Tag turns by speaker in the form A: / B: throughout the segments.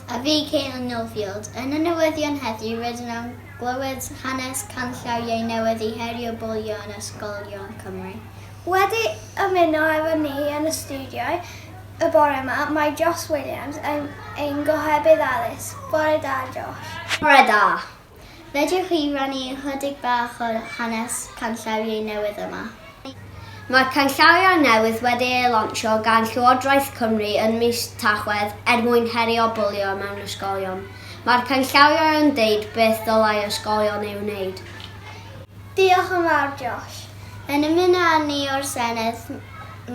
A: A fi Caitlin Newfield. Yn y newyddion heddiw rydyn am glywed hanes canllaw iau newydd i herio bwlio yn ysgolion Cymru. Wedi
B: ymuno efo ni yn y studio y bore yma mae Josh Williams, ein gohebydd addysg. Bore da Josh. Bore da!
A: Fedrwch chi rannu ychydig bach o hanes canllawiau newydd yma? Mae'r
C: canllawiau newydd wedi eu lansio gan Llywodraeth Cymru yn mis Tachwedd er mwyn herio bwlio mewn ysgolion. Mae'r canllawiau yn deud beth ddylai ysgolion ei wneud.
B: Diolch yn fawr Josh. Yn ymuno
A: â ni o'r Senedd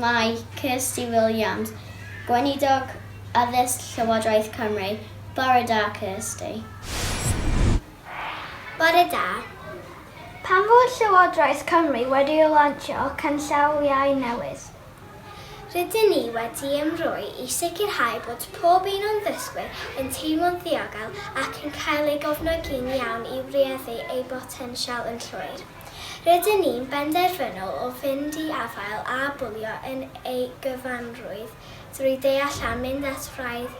A: mae Kirsty Williams, Gweinidog Addysg Llywodraeth Cymru. Bore da Kirsty.
B: Bore da. Pan fo Llywodraeth Cymru wedi lansio canllawiau newydd, rydyn
D: ni wedi ymroi i sicrhau bod pob un o'n ddysgwyr yn teimlo'n ddiogel ac yn cael ei gofnogi'n iawn i wreiddu eu botensial yn llwyr. Rydyn ni'n benderfynol o fynd i afael â bwlio yn ei gyfanrwydd drwy deall a mynd at fraidd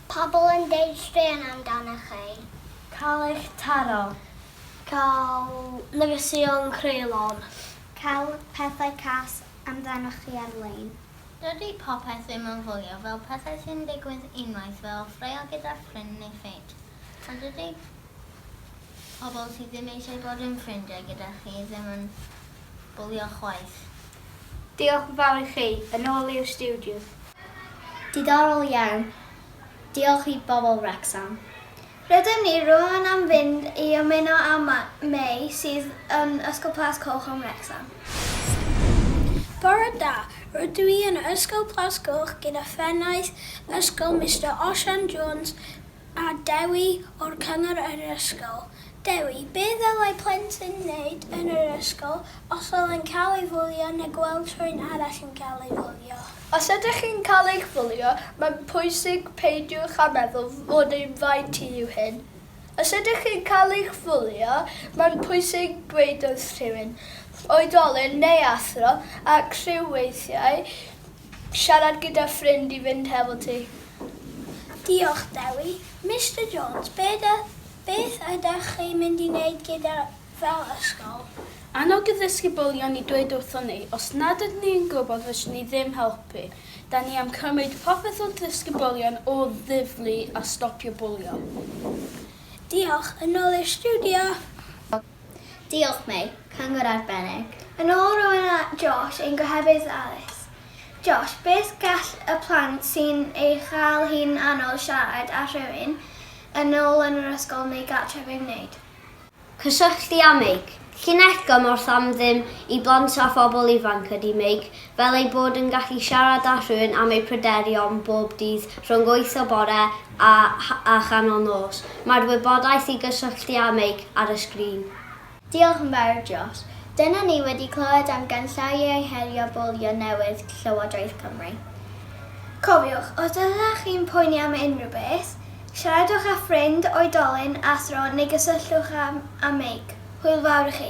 D: Pobl yn deud
B: straeon amdanoch chi. Cael eich
E: taro. Cael
B: negeseuon creulon. Cael
A: pethau cas amdanoch chi ar-lein. Dydy popeth
F: ddim yn fwlio fel pethau sy'n digwydd unwaith fel ffraeo gyda ffrind neu ffrind. A dydy pobl sydd ddim eisiau bod yn ffrindiau gyda chi ddim yn bwlio chwaith. Diolch
E: yn fawr i chi, yn ôl i'r stiwdio.
A: Diddorol iawn. Diolch i bobl Wrecsam. Rydym ni
B: rŵan am fynd i ymuno â May sydd yn Ysgol Plas Coch yn Wrecsam.
G: Bore da, rydw i yn Ysgol Plas Coch gyda phennaeth ysgol Mister Osian Jones, A Dewi, o'r cyngor yr ysgol. Dewi, Be ddylai plentyn wneud yn yr ysgol os oedd e'n cael ei fwlio neu gweld rhywun arall yn cael ei fwlio? Os ydych chi'n
H: cael eich bwlio, mae'n pwysig peidiwch â meddwl fod ein rhaid ti yw hyn. Os ydych chi'n cael eich fwlio, mae'n pwysig dweud wrth rhywun, oedolyn neu athro, ac rhyw weithiau Siarad gyda ffrind i fynd hefo ti.
G: Diolch, Dewi. Mister Jones, beth ydych chi'n mynd i wneud gyda fel ysgol? Annog y
H: ddisgyblion i dweud wrthon ni os nad ydyn ni yn gwybod fyswn ni ddim helpu. Da ni am cymryd popeth wrth ddisgyblion o ddifli a stopio bwlio.
G: Diolch. Yn ôl i'r stiwdio.
A: Diolch Mei, cyngor arbennig. Yn ôl rywun a
B: Josh, ein gohebydd addysg. Josh, beth gall y plant sy'n ei chael hi'n anodd siarad â rhywun yn ôl yn yr ysgol neu gartref ei wneud? Cysylltu
C: â Meic. Llinell gymorth am ddim i blant a phobl ifanc ydy Meic, fel eu bod yn gallu siarad â rhywun am eu pryderon bob dydd rhwng wyth y bore a a chanol nos. Mae'r wybodaeth i gysylltu â meic ar y sgrin. Diolch yn
A: fawr Josh. Dyna ni wedi clywed am ganllawiau herio bwlio newydd Llywodraeth Cymru. Cofiwch,
B: os ydych chi'n poeni am unrhyw beth, siaradwch â ffrind, oedolyn, athro neu gysylltwch â â meic. Hwyl fawr
A: i chi.